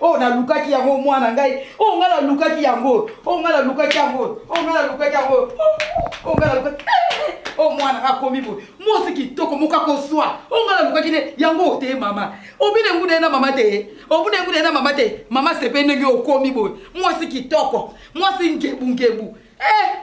oyo nalukaki yango mwana ngai oyo ngai nalukaki yango oyo ngai nalukaki yango oyo ngai nalukaki yango oyo ngai nalukaki oyo mwana akomi boye mwasi kitoko moko akozwa oyo ngai nalukaki nde yango ote mama obina enguda ye na mama te obina enguda ye na mama te mama sepe ndenge okomi boye mwasi kitoko mwasi ngebungebu eh!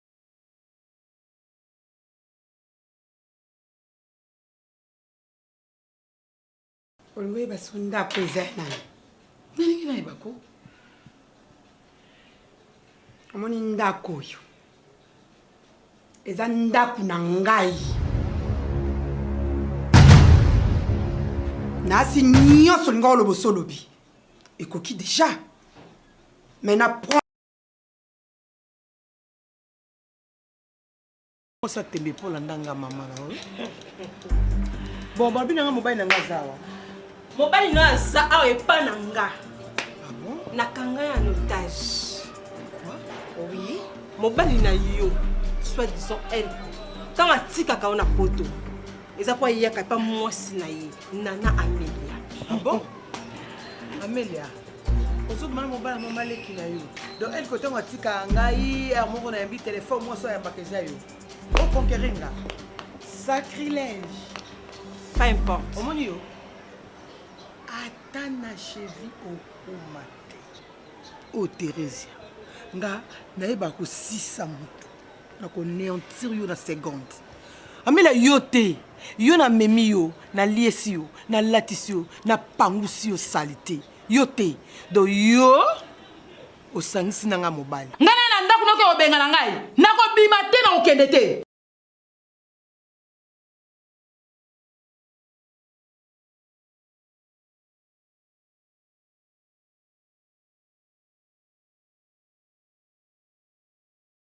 olwe baso ndako eza ya nani nalingi nayeba ko omoni ndako oyo eza ndako na ngai naasi nyonso olinga oloba osolobi ekoki deja mai na Kosa tembe mpo na ndanga mama na oyo. Bon, babi na nga mobali na nga azawa. Mobali na aza awa epa na nga. Ah bon? Na kanga ya notage. Quoi? Oui. Mobali na yo, soit disant elle, ntango atikaka yo na poto, eza mpo ayaka epa mwasi na ye, Nana Amelia. Ah bon? Amelia. ozobima na mobala mwa maleki na yo donc elko ntango atika ngai heure moko nayambi telefone mwasi oyo ayambaka eza yo oconquerir nga sacrilège pas importe omoni yo ata na chevi okoma te o oh, theresia nga nayeba kosisa moto nako neantir yo na seconde amela yo te yo na memi yo na liesi yo na latisi yo na pangusi yo salite yo te donc yo osangisi na nga mobali ngai naye na ndako noki obenga na ngai nakobima te na kokende te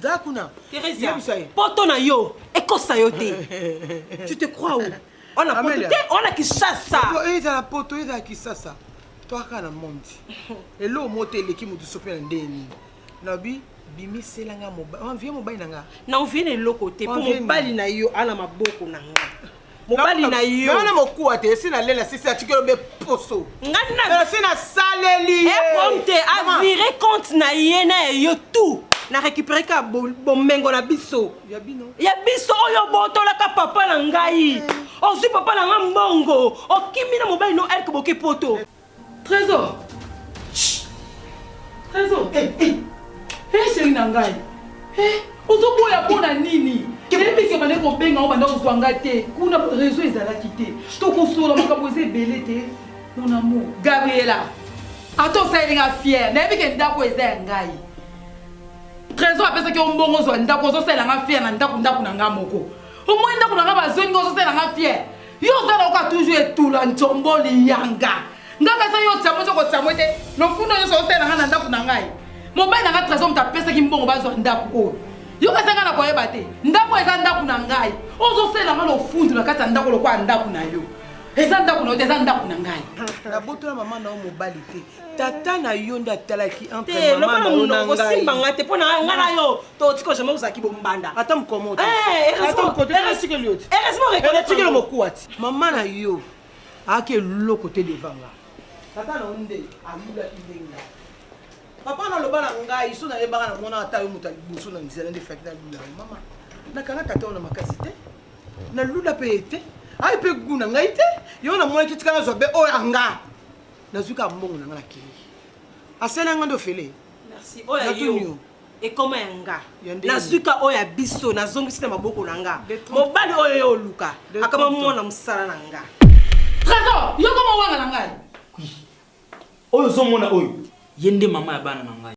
Za kuna. Theresia. Poto na yo ekosa yo te. Tu te crois où? On a poto te, on a Kinshasa. Eza la poto, eza la Kinshasa. Toi ka na monde. Elo moto eleki moto sope na ndenge nini? Nabi bimisela nga mobali. Envie mobali na nga. Na envie na eloko te. Po mobali na yo ana maboko na nga. mobali na yo wana mokuwa te esi nalela sisi atikelo be poso esi nasaleli ekomte eh, avire compte na ye na ya yo tout na récupéré ka bomengo na biso ya biso oyo botolaka papa na ngai eh. ozwi papa na ngai mbongo okimi na mobali no elke boke poto eh. Trésor. Trésor. Eh, eh. Eh, chérie na ngai. Eh, ozoboya mpo na nini? Nayebi ke bande kobenga o banda kozwa ngai te. Kuna réseau ezalaki te. Tokosola makambo eza ebele te. Mon amour. Gabriela. Ata osaleli ngai fière. Nayebi ke ndako eza ya ngai. Trésor apesaki yo mbongo ozwa ndako ozosalela ngai fière na ndako ndako na ngai moko. Omoi ndako na ngai bazongi ozosalela ngai fière. Yo oza na oka toujours etula nzombo liyanga. Nga pesa yo tsamo zoko tsamo ete lokundo yo sote na nga na ndaku na ngai. Mobali na nga trésor muta pesa ki mbongo bazo ndaku ko. Yo pesa nga na koye bate. Ndaku eza ndaku na ngai. Ozo sela nga lofundu na kati ndaku lokwa ndaku na yo. Eza ndaku na yo eza ndaku na ngai. Na botola maman na yo mobali te. tata na yo nde atalaki entremamanaosimba nga te mpo na nga na yo totiki ojama ozalaki bombanda ata mokomotoeresimokelo mokuwa ti mama na yo ayaki eloko te devanga tata na yo nde ayulaki ndenge papa naloba na ngai so nayebaka na mwana ata yo moto ya liboso na nzela nde faki nalula mama nakanga tata wana makasi te nalula mpe ye te ayi mpe gu na ngai te yo namonaki tika nazwa be oyo anga nazwi kaka mbongo na nga na kei asali yanga nde ofele merci oyo ya yo ekoma ya nga nazwika oyo ya biso nazongisi na maboko na nga mobali oyo yo oluka akama mwana mosala na nga trésor yo koma wana na ngai oyo ozomona oyo ye nde mama ya bana na ngai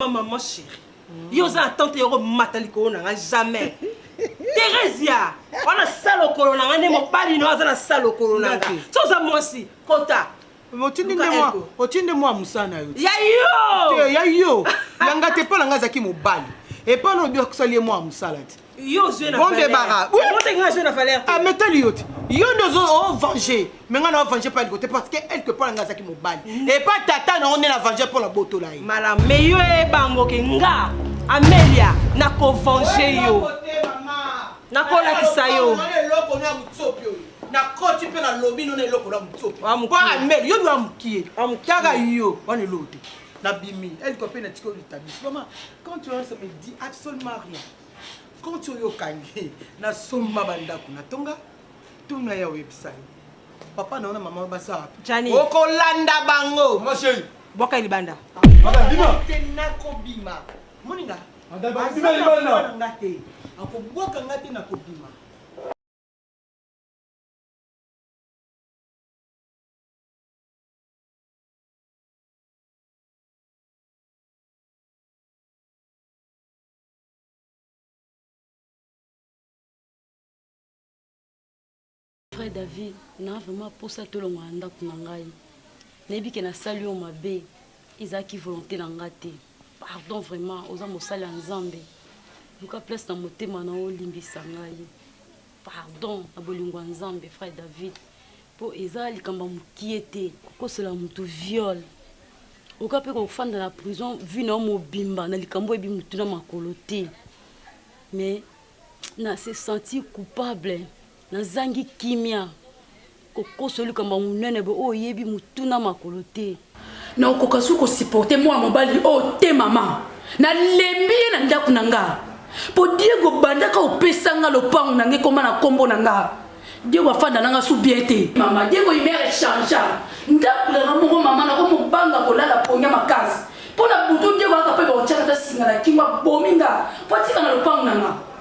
Ma maman chérie. Mm. Yo oza na tante yoko mata likolo na nga jamais. Theresia, wana salo kolo na nga nde mobali no aza na salo kolo na nga. So oza mwasi, kota. otindi nde mwa otindi nde mwa mosala na yo ya yo ya yo yanga te mpo na ngai azalaki mobali epai na obi akusali ye mwa mosala te bondebara ametali yo te yo nde ozo ovenge me ngai na ovenge mpo aliko te parce que elke mpo na ngai azalaki mobali mm. epa tata na yo nde na venge mpo na botola ye malam me yo ebangoke nga amelia nakovenge yo nakolakisa yo nakoti mpe nalobi nona eloko na motsopo amel yo nwa mokie taka yo wana eloo te nabimi elko mpe na tiki olitabiso mama quand tu as me dit absolument rien Koti oyo okangi na somba ba ndako na tonga tuna ya oyebisani papa na ona mama baza wapi okolanda bango ma chérie bwaka libanda te nakobima moninga nga te akobwaka nga te nakobima vrai david na vraiment mposa tolongola na ndako na ngai nayebi ke nasali yo mabe ezalaki volonté na ngai te pardon vraiment oza mosali ya nzambe luka place na motema na yo olimbisa ngai Pardon na bolingo ya nzambe frère David po eza likambo ya mukie te kokosela mutu viol oka pe kofanda na prison vie na yo mobimba na likambo oyebi mutu na makolo te mais na se sentir coupable nazangi kimia Kokoso likambo ya monene boye oyo oyebi motu na makolo te. Nakokoka su ko supporter mwana mobali oyo te mama. Nalembi ye na ndako na nga. Po Diego bandaka opesa nga lopango na nga ekoma na kombo na nga. Diego afanda na nga su bien te. Mama, Diego humeur e changea. Ndako na nga moko mama nako mo banga kolala ponya makasi. Po na butu Diego ayaka pe bakotiaka ata singa na kingo abomi nga po atika na lopango na nga.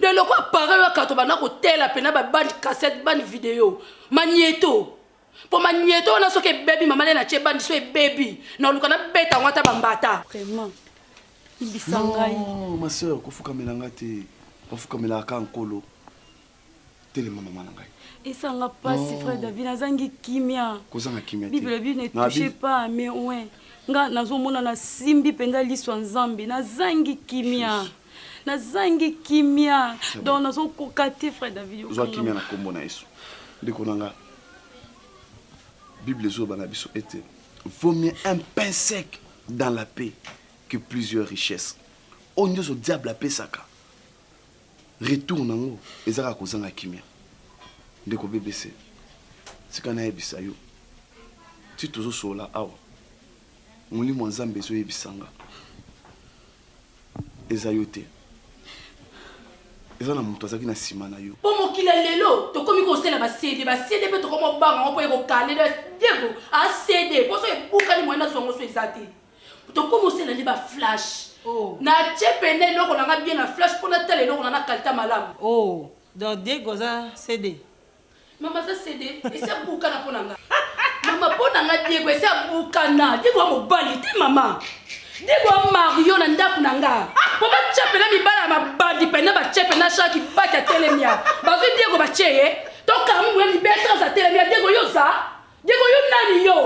de lokola pareil oyo akato banda kotela mpena babande cassette bande video manieto mpo manieto wana soki ebebi mama lena tie bandi so ebebi na oluka nabeta yango ata bambata vraiment ibisa ngai ma soeur kofukamela nga te bafukamelaka ka nkolo telema mama na ngai esanga pasi frère david nazangi kimia kozanga kimia bible elobi ne touche pas mais ouais nga nazomona nasimbi mpenza liso ya nzambe nazangi kimia nazangi kimia donc nazokoka te frère david ozwa kimia na nkombo na yesu ndeko na nga bible ezoloba na biso ete vaut mieux un pain sec dans la paix que plusieurs richesses oyo nyonso diable apesaka retour nango eza kaka kozanga kimia ndeko bbc tika nayebisa yo ti tozosolola awa molimo ya nzambe ezoyebisa nga eza yo te eza na moto azalaki na nsima na yo po mokili ya lelo tokomi kosela ba cd ba cd pe tokomi kobanga yango po eko kale diego a cd po soki ebukani moyen nazwa yango so eza te tokoma osela nde baflash oh. na tie pene eloko na nga bien na flash mpo natala eloko na na kalita malamu oh. donc diego aza cd mama aza cd esi abukana mpo na nga mama mpo na nga diego esi abukana diego ya mobali te mama diego ya mario na ndako na nga mpo batie pene mibala ya mabandi pene batie pene ashaki baki atelemia bazwi diego batie ye tokamwe libetras atelemia diego yo oza diego yo nani yo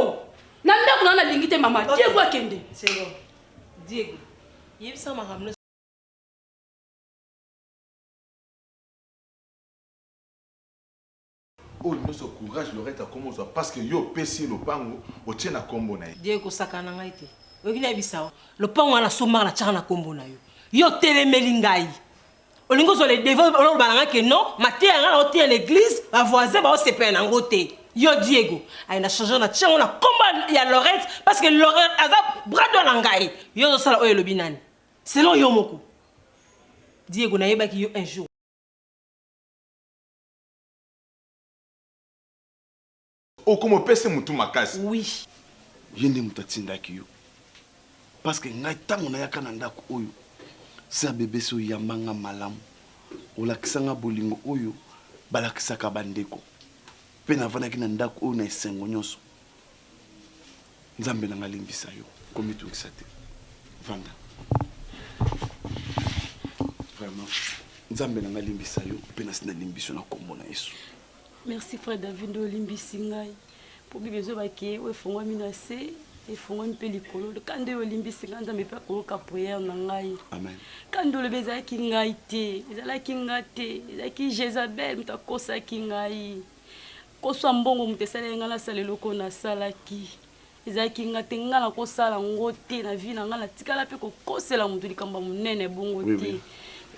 Na ndako na nalingi te mama. Okay. Diego akende. C'est bon. Diego. Yebisa makambo oyo nyonso courage lorete akoma ozwa parce que yo opesi ye lopango otie na nkombo na ye die kosakana ngai te oyoki nayebisa yo lopango wana sombaka na tiaka na nkombo na yo yo otelemeli ngai olingi ozwa le devant oloba na ngai ke non mateya ngai naoteya na eglise bavoisin baosepela na yango te yo diego aye na change na tiango na kombo ya lorette parce que lorette aza brado na ngai yo ozosala oyo elobi nani selon yo moko diego nayebaki yo un jour Okomo pese mutu makasi. Oui. Ye nde mutu atindaki yo parce que ngai tango nayaka na ndaku oyo sœur bebesi oyamba nga malamu olakisa nga bolingo oyo balakisaka ba ndeko pe navandaki na ndaku oyo na esengo nionso nzambe na nga alimbisa yo komitungisa te vanda vraiment nzambe na nga alimbisa yo pe nasi nalimbisi yo na kombo na yesu. Merci frère David nde olimbisi ngai mpo bible ezoba ke oyo efongwami na se efongwami mpe likolo ka nde oyo olimbisi ngai nzambe mpe akoyoka priere na ngai ka nde olobi ezalaki ngai te ezalaki ngai te ezalaki jezabel moto akosaki ngai koswa mbongo moto esalaki ngai nasala eloko nasalaki Ezalaki nga te nga nako sala ngo te na vie na nga na tikala pe ko kosela mutu likambo ya munene bongo te. Oui oui.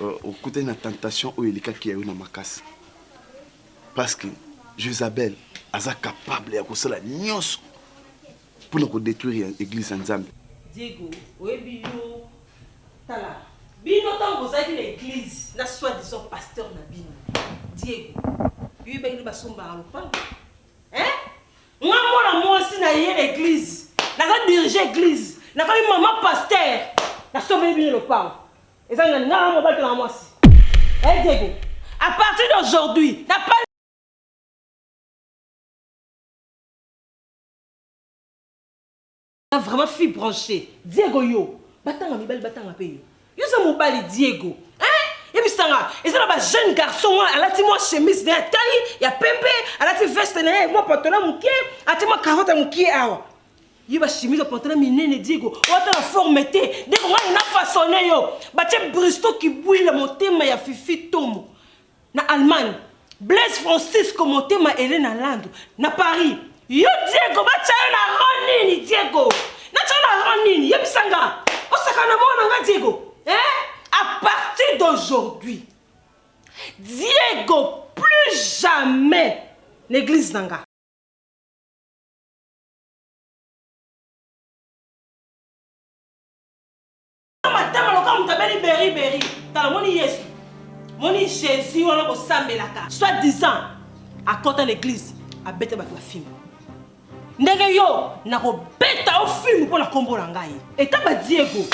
Euh, okutani na tentation oyo elekaki ya yo na makasi. Parce que Jezabel aza capable ya kosala nyonso mpo na kodetruire eglise ya nzambe diego oyebi yo tala bino ntango bozalaki na eglise na soi disant pasteur na bino diego yoyebaki nde basombaka lopango Nga mwana mwasi na ye eglise naza dirige eglise na komi mama pasteur na sombeli bino lopango eza na nga mobali to na mwasi eh Diego à partir d'aujourd'hui na pas Oza vraiment fille branchee. Diego yo batanga mibali batanga pe yo. Yo oza mobali Diego. Hein? Yebisa nga eza na ba jeune garçon mwa alati mwa chemise na ya taille ya pembe, alati veste na ye mwa pantalon moke, atie mwa cravate moke awa. Yo ba chemise ba pantalon minene Diego. Oata na forme te. Diego ngai na façonner yo. Batie bristo kibwila motema ya fifi tomo. Na Allemagne, Blaise Francisco motema Elena Landu na Paris. Yo Diego batya yo na rang nini Diego? Natya yo na rang nini? Yebisa nga. Osaka na mwana nga Diego. Hein? À partir d'aujourd'hui. Diego plus jamais na église na nga. matama lokola moto abeli beriberi tala moni yesu moni jésus wana kosambelaka soit disant akota na eglise abeta bato bafimbo ndenge yo nakobeta o filme mpo na nkombo na ngai etaba diego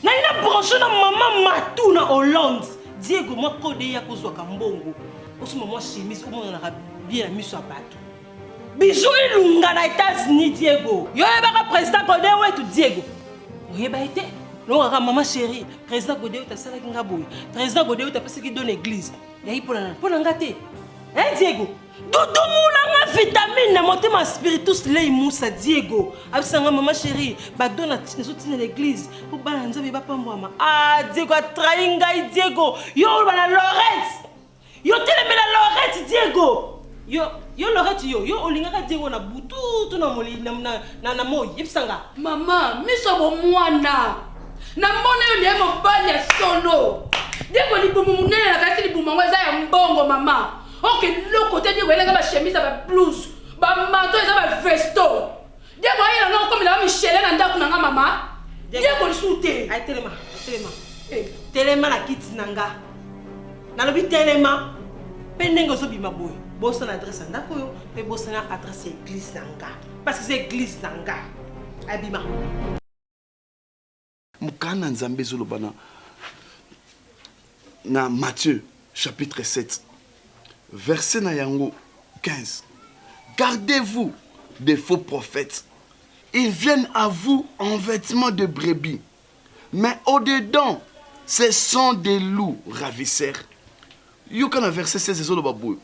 nani na branche na mama matu na hollande diego mwa kode ya kozwaka mbongo osomba mwa chemise omonanaka bie na miso ya bato Bijou ilunga na Etats-Unis Diego. Yo yebaka président Gode wetu Diego. Oyeba ye te? Longaka mama chérie, président Gode wetu asalaki nga boye. Président Gode wetu apesaki don église. Yayi mpo na nani? Mpo na nga te. Eh Diego, tutumula nga vitamine na motema spiritus lei musa Diego. Abisa nga mama chérie, ba don na nazo tina na église mpo bana Nzambe bapambwama. Ah Diego atrahi ngai Diego. Yo oloba na Lawrence. Yo telemela Laurette Diego. Yo yo Laurette yo yo olingaka Diego na butu to na moli na na na, na moi yebisa nga. Mama miso ya bomwana namona yo nde mobali ya solo. Diego libumu monene na kasi libumu yango eza ya mbongo mama. Oke loko te Diego elaka ba chemise ya ba blouse ba manteau eza ba vesto. Diego ayela nga okomela ba Michele na ndako na nga mama. Diego lisusu te. Ay telema, telema. Eh. Telema na kiti na nga. Nalobi telema. Pe ndenge ozobima boye. Bosana adresse ya ndako oyo pe bosana adresse ya eglise na nga. Parce que c'est eglise na nga. Abima. Mokana ya Nzambe ezoloba na na Matthieu chapitre 7 verset na yango 15 gardez-vous des faux prophètes ils viennent à vous en vêtements de brebis mais au dedans ce sont des loups ravisseurs yoka na verset 16 ezoloba boye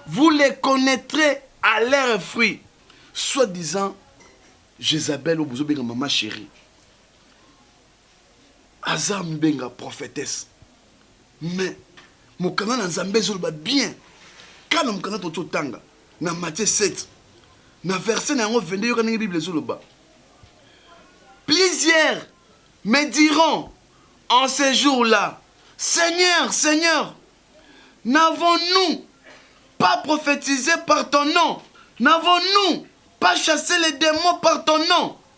vous les connaîtrez à leurs fruits soi-disant jezabel oyo bozobenga mama chérie aza mbenga prophetesse mais mokanda na nzambe ezoloba bien kaka na mokanda toki otanga na matie 7 na verset na yango 22 yoka ndenge bible ezoloba plusieurs me diront en ce jour là seigneur seigneur n'avons-nous pas prophétisé par ton nom n'avons-nous pas chassé les démons par ton nom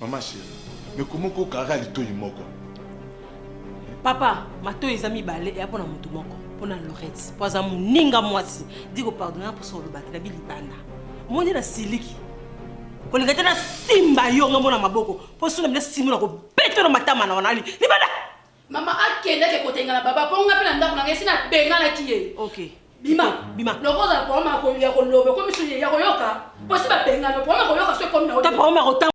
Maman chérie, mais comment ko kara litoyi moko? Papa, matoyi eza mibale ya pona mutu moko, pona Lorette, po aza muninga mwasi. Di ko pardonner pour son lobaki na bi libanda. Omoni na siliki. Kolinga te na simba yo nga mona maboko, po suna mina simola ko beto na matama na wana libanda. Mama akendaki kotenga na baba mpo nga mpe na ndako na ngai esi nabenganaki ye. Okay. Bima. Bima. Loko ozala problème ya kolia koloba ekomi so ya koyoka mpo si babengana problème ya koyoka so ekomi na yo. Ta problème ya kotanga.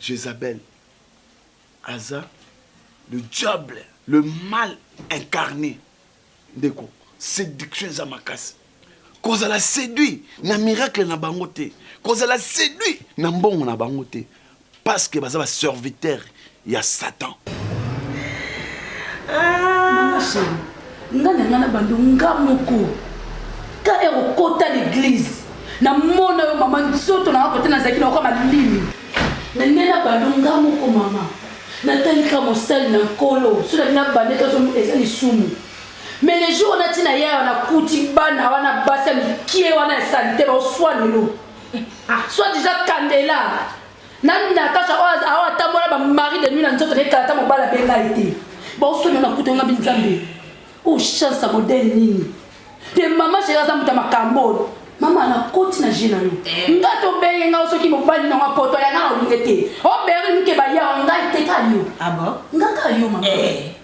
Jezabel aza le diable le mal incarne ndeko séduction eza makasi kozala séduit na miracle na bango te kozala séduit na mbongo na bango te Parce que baza ba serviteur ya Satan. Maman chérie, nga na nga na bando nga moko ka ero kota l'église na mona yo mama nzoto na kote nazalaki na okama limi na nde na bando nga moko mama natalika mosali na nkolo so na bina bande tozo eza lisumu mais le jour nati na yaya nakuti bana wana basi ya mikie wana ya salite baoswa lelo soit disant kandela na natasha oyo oh, oh, atambola bamari de nuit na nzoto naye kala ata mobali abenga ye te baosoni ona kuta nga binzambe o oh, chance ya modele nini te mama sheri aza moto ya makambo oyo mama nakoti na je na yo eh. nga tobenge nga soki mobali nango apoto yanga na olinge te oberi moke baya ngai te ka yo ah nga ka yo mama eh.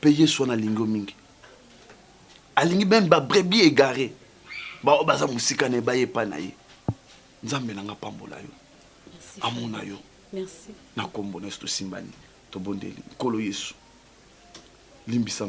Pe Yesu wana alingi yo mingi. Alingi meme ba brebis egaree baoyo baza mosika na ye baye epai na ye. Nzambe na nga apambola yo, amona yo na nkombo na Yesu tosimbani, tobondeli Nkolo Yesu limbisa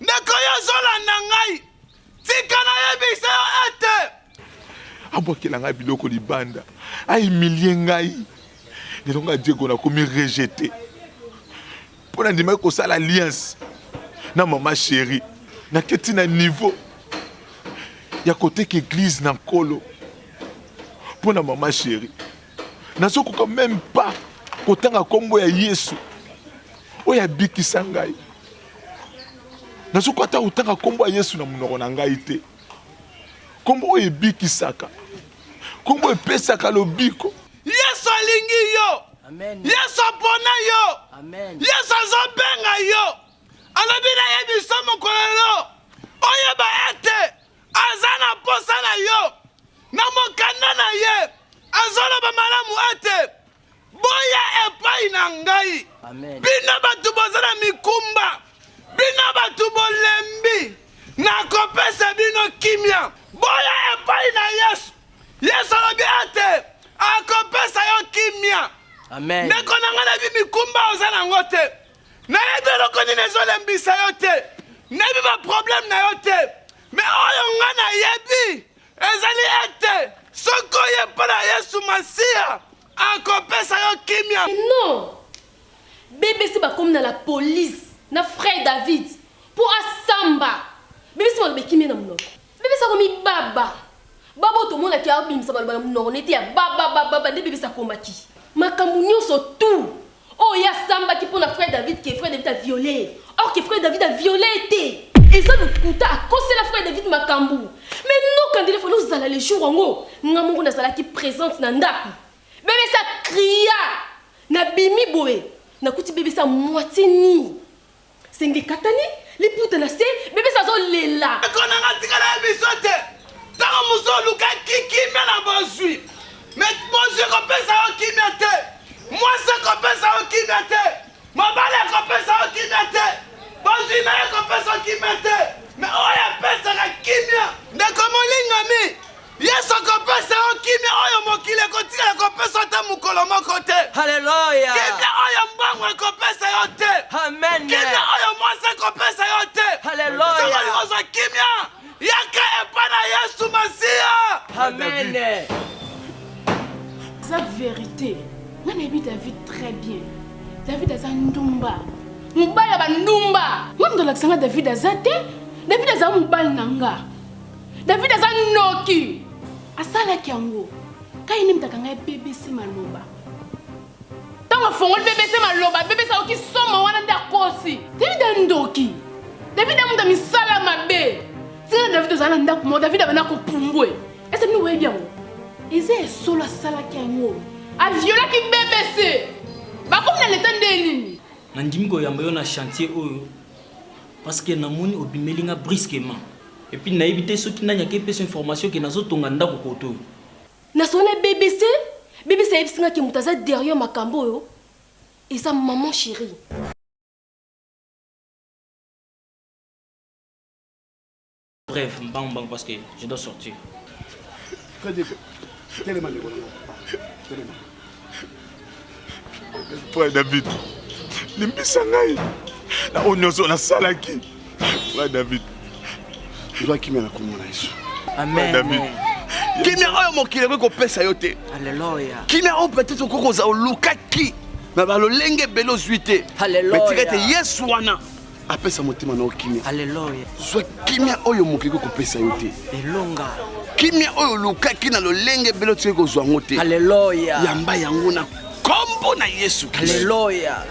ndeko yo ozolanda ngai tika nayebisa yo ete abwakela ngai biloko libanda aimilie ngai lelo ngai diego nakomi rejete mpo nandimaki kosala alliance na mama sheri naketi na niveau ya koteka eglize na nkolo mpo na mama sheri nazokoka meme pas kotanga nkombo ya yesu oyo abikisa ngai nazokoka ata kotanga nkombo ya yesu na monoko na ngai te nkombo oyo ebikisaka nkombo epesaka lobiko Yesu alingi yo. Amen. Yesu apona yo. Amen. Yesu azobenga yo. Alobi na ye biso mokolo lelo oyeba ete aza na mposa na yo na mokanda na ye azoloba malamu ete boya epai na ngai bino bato boza na mikumba Bino bato bolembi, nakopesa bino kimia. Boya epai na Yesu. Yesu alobi ete akopesa yo kimia. Amen. Ndeko na ngai, nayebi mikumba oza na yango te, nayebi eloko nini ezolembisa yo te, nayebi baprobleme na yo te, me oyo ngai nayebi ezali ete soki oye mpo na Yesu Masiya Akopesa yo kimia. Mais non! BBC bakomi na la police na frère David po asamba. BBC maloba ekimi na munoko. BBC akomi baba. Baba oyo tomonaki abimisa maloba na munoko na ye te ya baba baba baba nde BBC akomaki. Makambo nionso tout Oyo ye asambaki mpo na frère David que frère David a viole ye or que frère David a viole ye te eza lokuta akosela frère David makambu mais ndoka ndele fallait ozala le jour yango nga moko nazalaki presente na ndaku bebesi a cria na bimi boye nakuti bebesi a moitie nui Sengi katani liputa na se bebe sa zo lela. Kona nga tika na biso te. Tango muso luka kikimia na bozui. Me bozui ko pesa yo kimia te. Mwasi ko pesa yo kimia te. Mobali ko pesa yo kimia te. Bozui na ye ko pesa kimia te. Me oya pesa ka kimia. Ndeko molingami. Yesu akopesa yo kimia oyo mokili ekotikala kopesa ata mokolo moko te. Haleluya. Kimia oyo mbangu ekopesa yo te. Amen. Kimia oyo mwasi ekopesa yo te. Haleluya. Soki olingi kozwa kimia, yaka epai na Yesu Masiya. Amen. Eza verite. Nga nayebi David très bien. David aza ndumba. Mobali ya bandumba. Nga moto alakisa nga David aza te. David aza mobali na nga. David aza noki. Asalaki yango. Kai nini mtaka ngai BBC maloba. Tango afongoli BBC maloba, BBC aoki somo wana nda kosi. David a ndoki. David a muta misala mabe. Sika David ozala na ndako mo David abana ko pumbwe. Ese mini webi yango. Eze esolo asalaki yango. A violaki BBC. Bakomi na leta nde nini? Nandimi koyamba yo na chantier oyo Parce que na moni obimeli nga brusquement. Et puis nayebi te soki nani ake pesa information que nazo tonga ndaku kotoyo. Na solo na BBC, BBC ayebisi nga que moto aza derrière makambo oyo eza maman cherie. Bref, mbangu mbangu parce que je dois sortir. Très bien. Telema ndeko na nga. Telema. Frère David, limbisa ngai na oyo nyonso nasalaki. Frère David. Ozwa kimia na komona Yesu. Amen. David. Kimia oyo mokili ekoki kopesa yo te. Alléluia. Kimia oyo peut-être okoki kozala olukaki na balolenge ebele ozwi te. Alléluia. Mais tika ete Yesu wana apesa motema na yo kimia aleluya zwa kimia oyo mokoki kopesa yo te elonga kimia oyo olukaki na lolenge ebele otikaki kozwa yango te aleluya yamba yango na nkombo na yesu kristo aleluya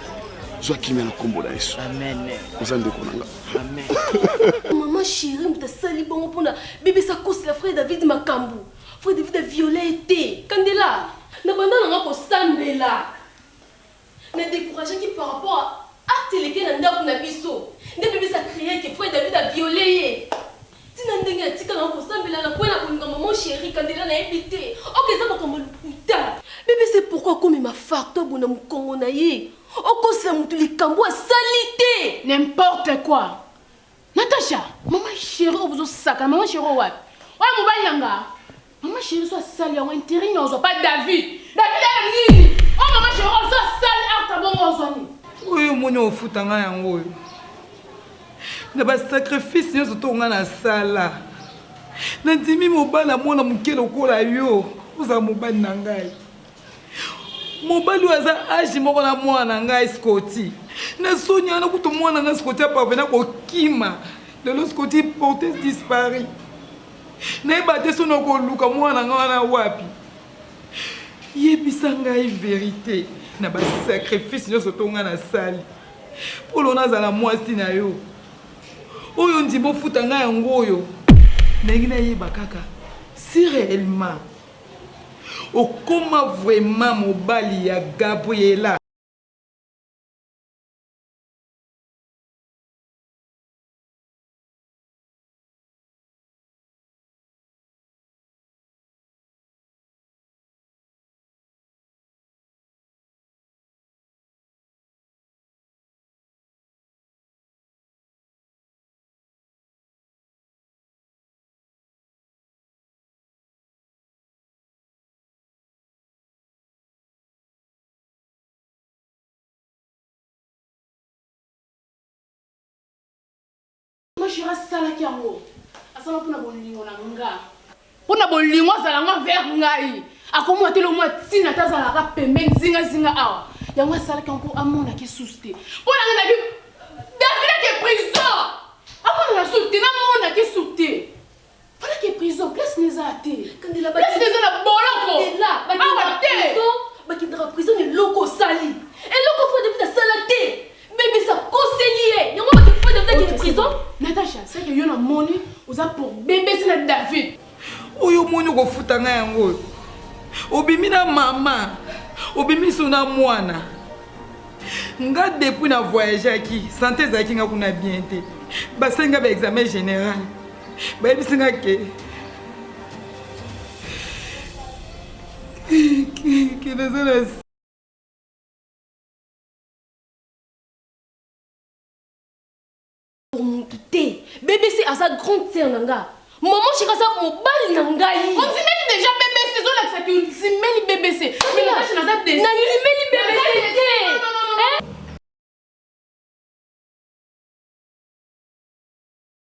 zwa kimia na nkombo na yesu amen oza ndeko na nga amen mama shiri moto asali bongo mpona bebisa kosela frère david makambo frère david aviole ye te kandela na banda nanga kosambela Na decouragaki par rapport à acte eleki na ndaku na biso nde bebe sa crier que frère David a viole ye ti na ndenge atika na yo kosambela na poye na kolinga maman cherie kandela na yebi te ok eza makambo ya lokuta. Bebe sa pourquoi akomema facto boye na mukongo na ye okosela mutu likambu asali te. N'importe quoi! Natasha, maman chérie obuzo saka, maman chérie wapi? Oya mobali na nga. Maman chérie so asali yango intérêt nyo ozwa pa David. David ya nini? Oh maman chérie ozo asali aka bongo ozwa nini? Oyo moni ofuta nga yango oyo. Na ba sacrifice nyo zoto nga na sala. Na ndimi mobali ya mwana moke lokola yo ozala mobali na ngai. Mobali oyo aza age moko na mwana na ngai Scotty. Na soni wana kutu mwana na Scotty a parvena kokima. Lelo Scotty porte dispari. Nayeba te soni okoluka mwana na ngai wana wapi. Yebisa ngai verite na ba sacrifice nyonso to ngai nasali. Polo nazala mwasi na yo. Oyo ndima ofuta ngai yango oyo. Nalingi nayeba kaka si reellement Okoma vraiment mobali ya Gabriella. shira asalaki yango asala mpona bolingo na nga mpona bolingo azala nga vers ngai akomona te lomwa ntina ata azalaka pembeni zingazinga awa yango asalaki yango mpo amonaki susu te mpo na ngai davidaki prison amonaka susu te namonaki susu te Fallait que prison place na eza te. Kandela place na eza na boloko. Kandela awa te. Bakendaka prison na eloko osali. Eloko Fred David asala te. Bebe sa koseli ye. Yango baki Fred David akende prison. Natacha, c'est que yo na moni oza pour bebe sa na David. Oyo moni okofuta nga yango oyo. Obimi na mama. Obimi so na mwana. Nga depuis na voyageaki, santé ezalaki nga kuna bien te. Basali nga ba examen général. bayebisi nga ke ke naza na motu te bbc aza grande sere na nga mama shika aza mobali na ngai ondimeli deja bbc ezolakisa ki ondimeli bbc nandimeli bbc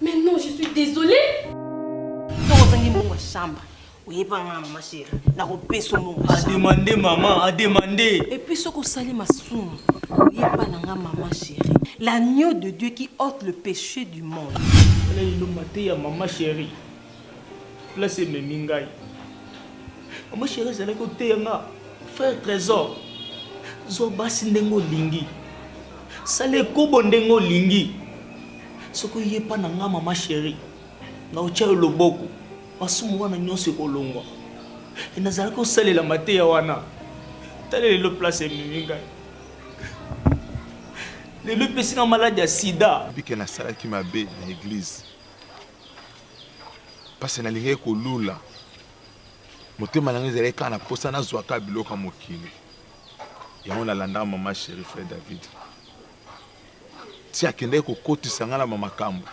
Mais non, je suis désolée. ozangi mbongo ya shamba oyeba nga mama chéri nakopesa mbongo ya shamba ademande mama ademande epuis soki osali masumu oyeba na nga mama chéri l'agneau de dieu qui ôte le péché du monde wana lino mateya mama chéri place ememi ngai mama sheri ezalaki oteya nga frère trésor zwa basi ndenge olingi sala ekobo ndenge olingi soki oyepa na nga mama sheri na otya yo loboko masumu wana nyonso ekolongwa e nazalaki osalela mateya wana tala lelo place ememi ngai lelo epesi nga maladi ya sida bike nasalaki mabe na eglize mpasi nalingaki kolula motema na ngai ezalaki kaka na mposa nazwa kaka biloko ya mokili yango nalandaka mama sheri fre david ti akendaki kokotisa ngai na bamakambo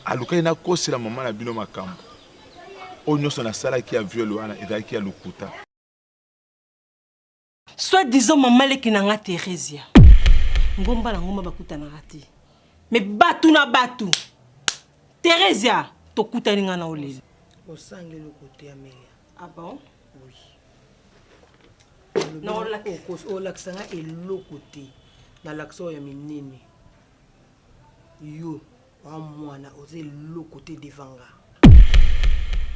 alukaki nakosela mama na bino makambo oyo nyonso nasalaki ya viole wana ezalaki ya lokuta Soit disant maman leki na nga Theresia. Ngomba na ngomba bakutanaka te. Mais batu na batu. Theresia, tokutani nga na oleli. Osangi eloko te Amelia. Ah bon? Oui. Na olaki. Okos olakisa nga eloko te. Na lakisa oyo ya minene. Yo. Wa muana oza eloko te devant nga.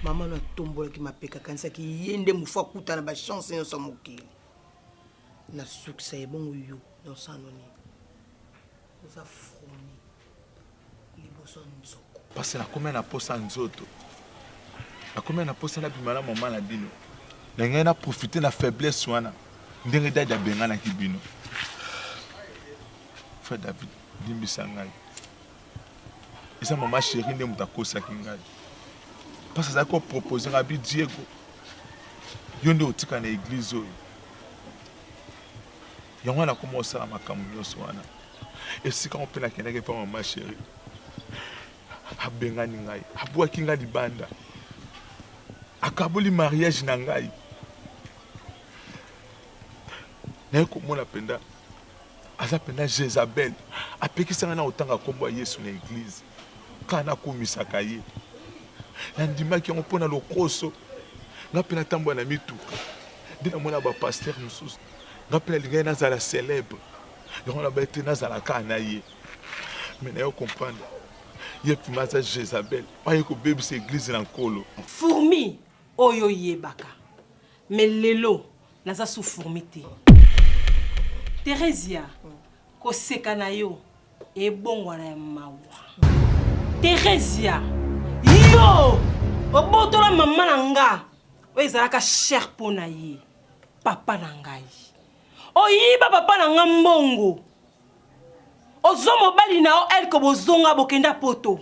Maman no atombolaki mapeka akanisaki ye nde mufu akuta na ba chance nionso ya mokili. Na sukisa ye bongo yo nonsano nini? Oza froni liboso ya nzoko. Pasi na komia na posa nzoto. Na komia na posa na bima na maman na bino. Na ngai na profiter na faiblesse wana ndenge dady abenganaki bino. Frère David. Limbisa ngai. Eza mama chérie nde moto akosaki ngai. Parce azali ko proposer ngai bi Diego. Yo nde otika na église oyo. Yango wana nakoma osala makambo nyonso wana. Esika yango mpe nakendaki epa mama chérie. Abengani ngai, abwaki ngai libanda. Akaboli mariage na ngai. naye komona mpenza Aza pena Jezabel apekisa nga nao tanga kombo ya Yesu na eglise kaka na kumisaka ye na ndimaki yango pona lokoso nga pena tambola na mituka nde na mona ba pasteur mususu nga pena lingaki nazala celebre yango na ba ete nazala kaka na ye mais nayo comprendre ye pima aza Jezabel aye kobebisa eglise na nkolo fourmi oyo yebaka mais lelo Naza sous fourmi te. Theresia, koseka na yo ebongwana ya mawa. Theresia, yo obotola mama na nga oyo ezalaka cher mpo na ye, papa na ngai. Oyiba papa na nga mbongo. Ozwa mobali na yo elke bozonga bokenda poto.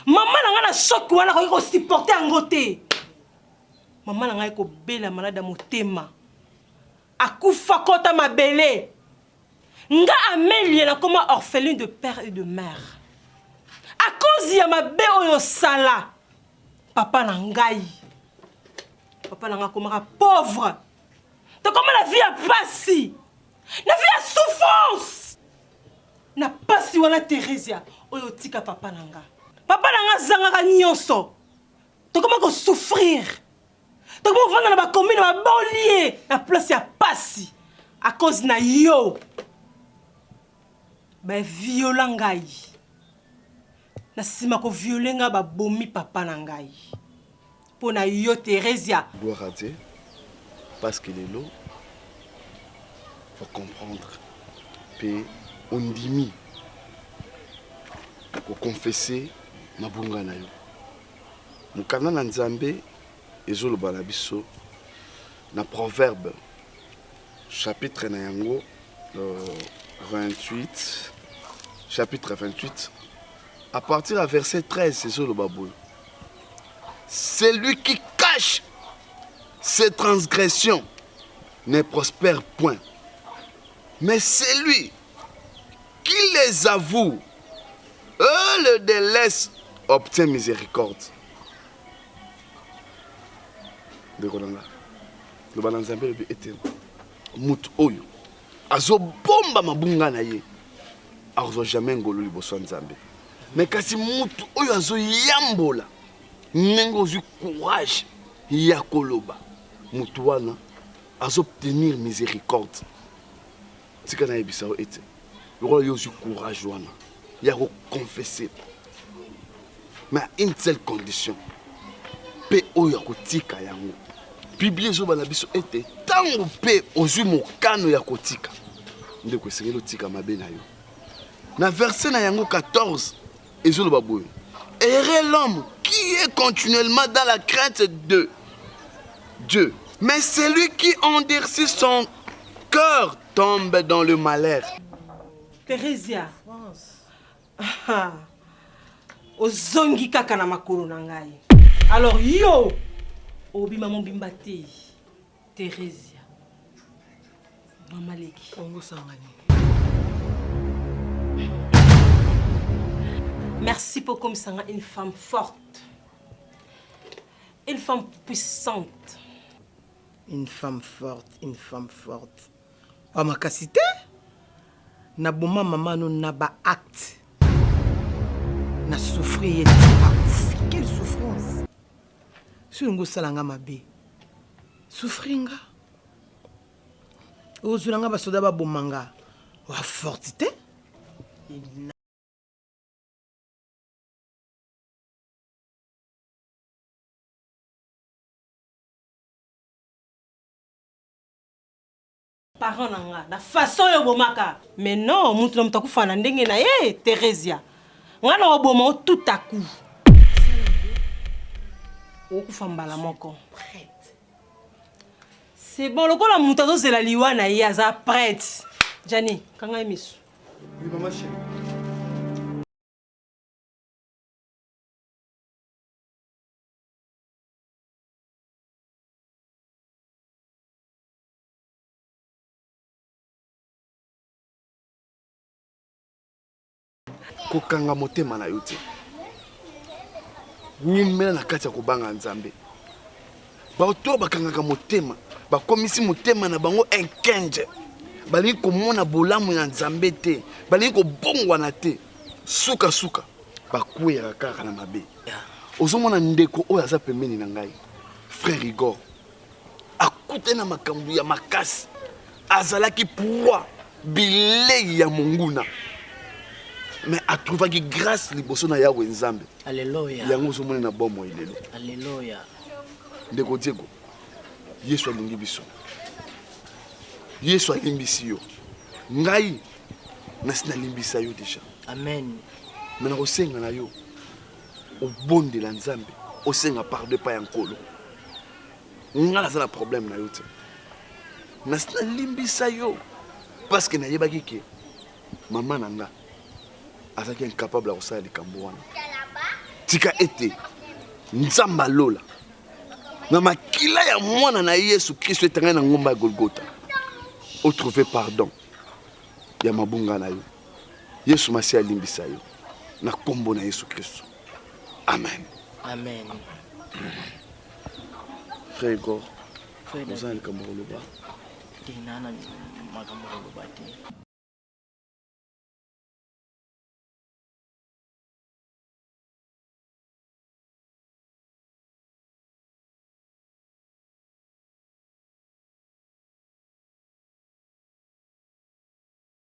Mama na nga na shock wana akoki kosupporte yango te. Mama na ngai kobela malade ya motema. Akufa kota mabele. Nga Amelia na koma orpheline de père et de mère. A cause ya mabe oyo sala papa na ngai. Papa na ngai komaka pauvre. Tokoma na vie ya pasi. Na vie ya souffrance. na pasi wana Theresia oyo tika papa na nga papa na nga azangaka nyonso tokoma ko souffrir tokoma kovanda na bakomine babolie na place ya pasi à cause na yo baviola ngai na nsima koviole ngai babomi papa na ngai mpo na yo theresia gloire à dieu parce que lelo ocomprendre mpe ondimi koconfese mabunga na yo Mokanda na Nzambe ezoloba na biso na Proverbe chapitre na yango 28 chapitre 28 à partir ya verset 13 ezoloba boye celui qui cache ses transgressions ne prospère point mais celui Qui les avoue euh, le délaisse obtient miséricorde. Ndeko na nga, loba na Nzambe lobi ete moto oyo azobomba mabunga na ye akozwa jamais ngolu liboso ya Nzambe. Me kasi moto oyo azoyambola ndenge ozwi courage ya koloba moto wana azo obtenir miséricorde tika nayebisa yo ete lokola yo ozwi courage wana ya koconfese mais à une seule condition mpe oyo ya kotika yango biblia ezoba na biso ete ntango mpe ozwi mokano ya kotika ndeko esengeli otika mabe na yo na verse na yango 14 ezoloba boye heureux l'homme qui est continuellement dans la crainte de Dieu mais celui qui endurcit son cœur tombe dans le malheur Theresia ah, ozongi kaka na makolo na ngai alors yo obima mobimba te Theresia. Mama leki. Bongo sanga nini? Merci pour comme ça une femme forte. Une femme puissante. Une femme forte, une femme forte. Oh ma cassité Na boma maman no na ba acte. Na souffrir et pas Quelle souffrance Soki olingi osala nga mabe, souffrir nga. Ozwela nga basoda baboma nga. Wa forte te. parent na nga na façon yo bomaka mais non mutu na mutu akufa na ndenge na ye Theresia nga na oboma o tout à coup okufa mbala moko c'est bon lokola mutu azozela liwa na ye aza prête Jani kanga ye misu oui, maman chérie. kokanga motema na yo te wumela na kati ya kobanga nzambe bato oyo bakangaka motema bakomisi motema na bango enkenje balingi komona bolamu ya nzambe te balingi kobongwana te sukasuka bakweyaka kaka na mabe ozomona ndeko oyo aza pembeni na ngai frère igor akutani na makambo ya makasi azalaki proie bilei ya monguna me atrouvaki grâce liboso na yawe nzambe yango ozomoni na bomoi lelo ndeko diego yesu alingi biso yesu alimbisi yo ngai nasi nalimbisa yo deja amen me nakosenga na yo obondela nzambe osenga pardon epai ya nkolo nga naza na problème na yo te nasi nalimbisa yo parceke nayebaki ke mama na nga azalaki incapable ya kosala likambo wana tika ete nzambe alola na makila ya mwana na ye yesu kristo etangani na ngomba ya golgota otrouve pardon ya mabunga na yo Yesu Masiya alimbisa yo na nkombo na Yesu Kristo, amen. Amen. Frère Igor, oza na likambo koloba? Te, naa na makambo koloba te.